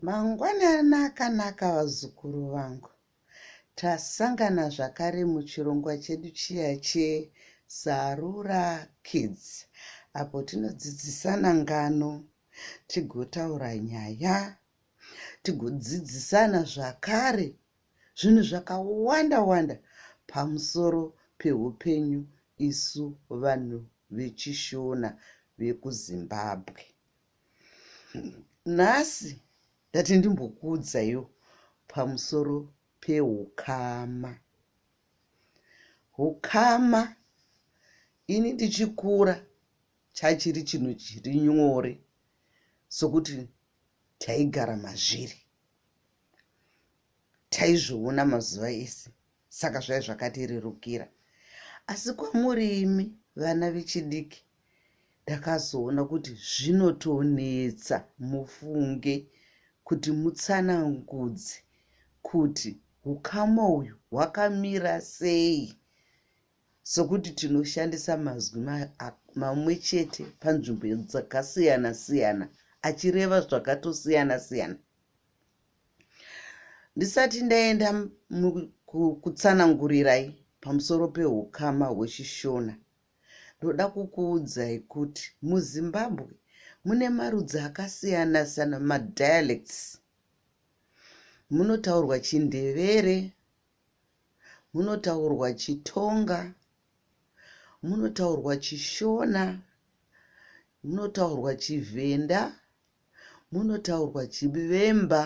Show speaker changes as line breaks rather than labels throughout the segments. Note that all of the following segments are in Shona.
Mangwanani
akanaka vazukuru vangu. Tasangana zvakare muchirongwa chedu chiya cheZarura Kids apo tinodzidzisana ngano, tigotaura nyaya, tigodzidzisana zvakare zvinhu zvakawanda wanda pamusoro peupenyu isu vanhu vechishona vekuzimbabwe nhasi ndati ndimbokuudzaiwo pamusoro peukama ukama ini ndichikura chachiri chinhu chiri nyore sokuti taigara mazviri taizviona mazuva ese saka zvai zvakatirerukira asi kwamuri imi vana vechidiki ndakazoona kuti zvinotonetsa mufunge kuti mutsanangudzi kuti ukama uyu hwakamira sei sokuti tinoshandisa mazwi mamwe chete panzvimbo dzakasiyana siyana achireva zvakatosiyana siyana ndisati ndaenda kutsanangurirai pamusoro peukama hwechishona ndoda kukuudzai kuti muzimbabwe mune marudzi akasiyana siyana madialects munotaurwa chindevere munotaurwa chitonga munotaurwa chishona munotaurwa chivhenda munotaurwa chivemba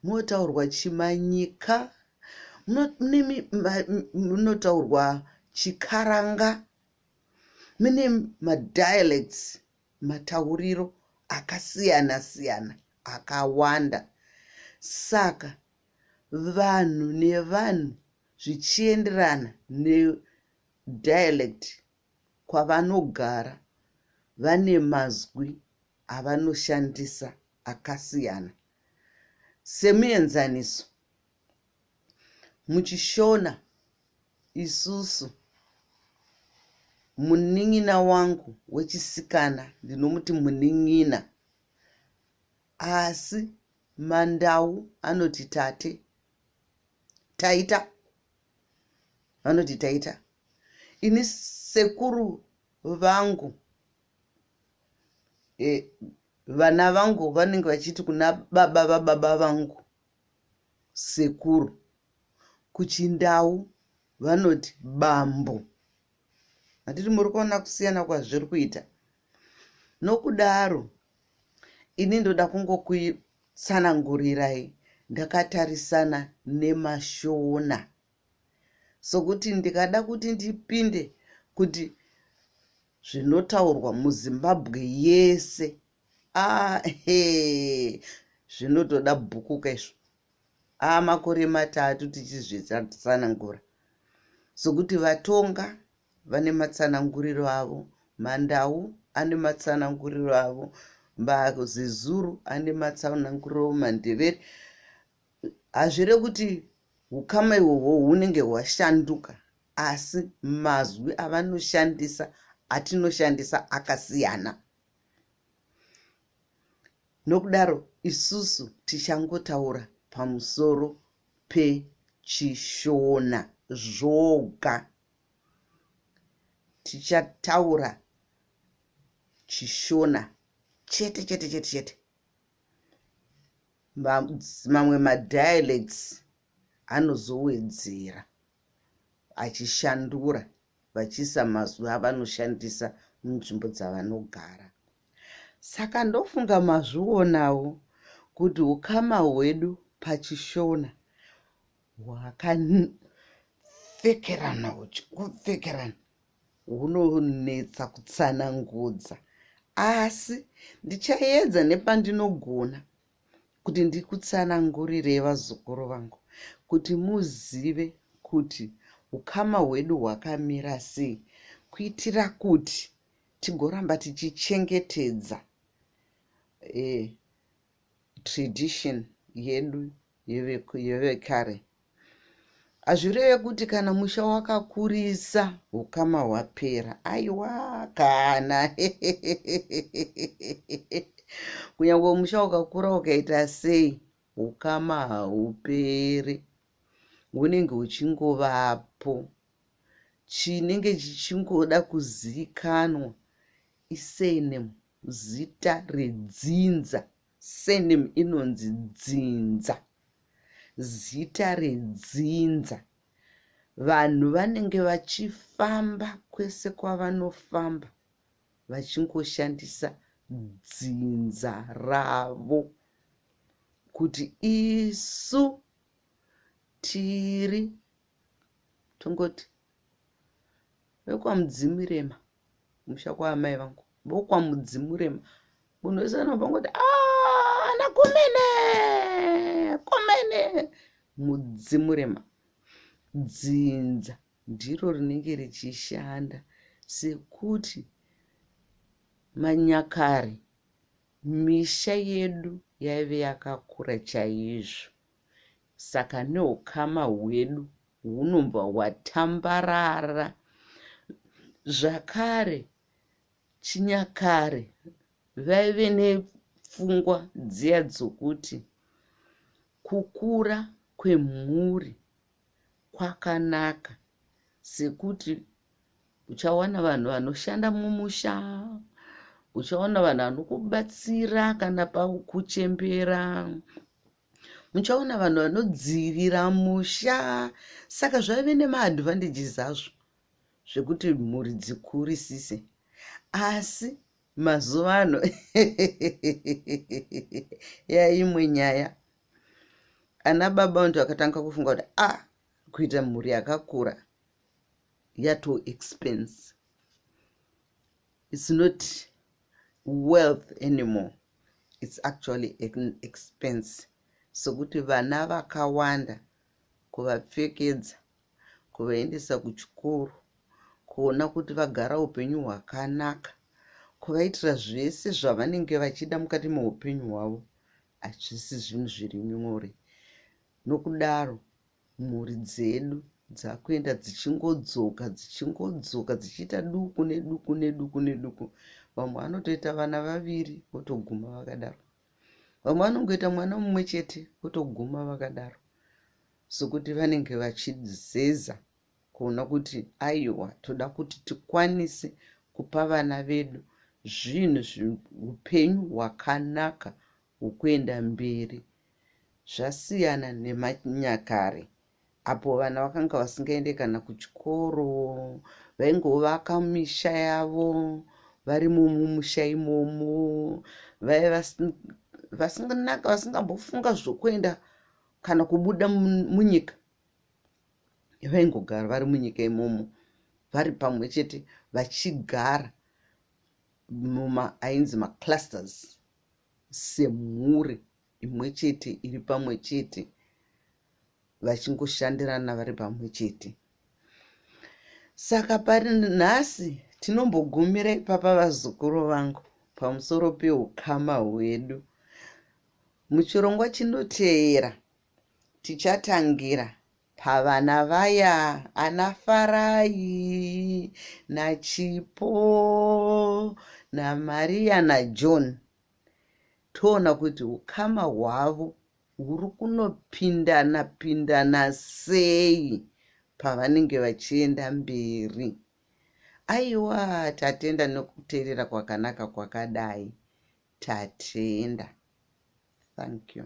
munotaurwa chimanyika munotaurwa chikaranga mune madialects matauriro akasiyana siyana akawanda saka vanhu nevanhu zvichienderana nedialect kwavanogara vane mazwi avanoshandisa akasiyana semuenzaniso muchishona isusu munin'ina wangu wechisikana ndinomuti munin'ina asi mandau anoti tate taita vanoti taita ini sekuru vangu e, vana vangu vanenge vachiti kuna baba vababa vangu sekuru kuchindau vanoti bambo hatiti muri kuona kusiyana kwazviri kuita nokudaro ini ndoda kungokutsanangurirai ndakatarisana nemashona sokuti ndikada kuti ndipinde kuti zvinotaurwa muzimbabwe yese ahe zvinotoda bhuku kaizvo aa makore matatu tichizvitsanangura sokuti vatonga vane matsananguriro avo mandau ane matsananguriro avo mazezuru ane matsananguriro avo mandevere hazvire kuti ukama ihwohwo hunenge hwashanduka asi mazwi avanoshandisa atinoshandisa akasiyana nokudaro isusu tichangotaura pamusoro pechishona zvoga tichataura chishona chete chete chete chete mamwe madialects anozowedzera achishandura vachiisa mazwi avanoshandisa munzvimbo dzavanogara saka ndofunga mazvionawo kuti ukama hwedu pachishona wakapfekerana uchi kupfekerana hunonetsa kutsanangudza asi ndichaedza nepandinogona kuti ndikutsanangurire vazukuru vangu kuti muzive kuti ukama hwedu hwakamira sei kuitira kuti tigoramba tichichengetedza e, tradition yedu yevekare hazvireve kuti kana musha wakakurisa ukama hwapera aiwa kana kunyange musha ukakura ukaita sei ukama hauperi hunenge huchingovapo chinenge chichingoda kuzivikanwa isenemu zita redzinza surname inonzi dzinza zita redzinza vanhu vanenge vachifamba kwese kwavanofamba vachingoshandisa dzinza ravo kuti isu tiri tongoti vekwamudzimirema musha kwaamai vangu vokwamudzimurema munhu wese anobva ngoti ah, ana kumene kumene mudzimurema dzinza ndiro rinenge richishanda sekuti manyakare misha yedu yaive yakakura chaizvo saka neukama hwedu hunobva hwatambarara zvakare chinyakare vaive nepfungwa dziya dzokuti kukura kwemhuri kwakanaka sekuti uchawana vanhu vanoshanda mumusha uchaona vanhu vanokubatsira kana pakuchembera muchaona vanhu vanodzivira musha saka zvaive nemaadvantages azvo zvekuti mhuri dzikurisise asi mazuva ano yaimwe nyaya ana baba vantu vakatanga kufunga kuti a ah, kuita mhuri yakakura yato expense it's not wealth anymore it's actually an expense sokuti vana vakawanda kuvapfekedza kuvaendesa kuchikoro kuona kuti vagara upenyu hwakanaka kuvaitira zvese zvavanenge vachida mukati meupenyu hwavo hazvisi zvinhu zviri nyore nokudaro mhuri dzedu dzakuenda dzichingodzoka dzichingodzoka dzichiita duku neduku neduku neduku vamwe vanotoita vana vaviri votoguma vakadaro vamwe vanongoita mwana mumwe chete votoguma vakadaro sokuti vanenge vachizeza kuona kuti aiwa toda kuti tikwanise kupa vana vedu zvinhu zviupenyu hwakanaka hwokuenda mberi zvasiyana nemanyakare apo vana vakanga vasingaende kana kuchikoro vaingovaka misha yavo vari mumusha imomo vaive vasinganaka vasingambofunga zvokuenda kana kubuda munyika vaingogara vari munyika imomo vari pamwe chete vachigara muma ainzi maclusters semhuri imwe chete iri pamwe chete vachingoshandirana vari pamwe chete saka pari nhasi tinombogumira ipapa vazukuru vangu pamusoro peukama hwedu muchirongwa chinoteera tichatangira pavana vaya ana farai nachipo namariya najohn na toona kuti ukama hwavo huri kunopindana pindana sei pavanenge vachienda mberi aiwa tatenda nekuteerera kwakanaka kwakadai tatenda thank you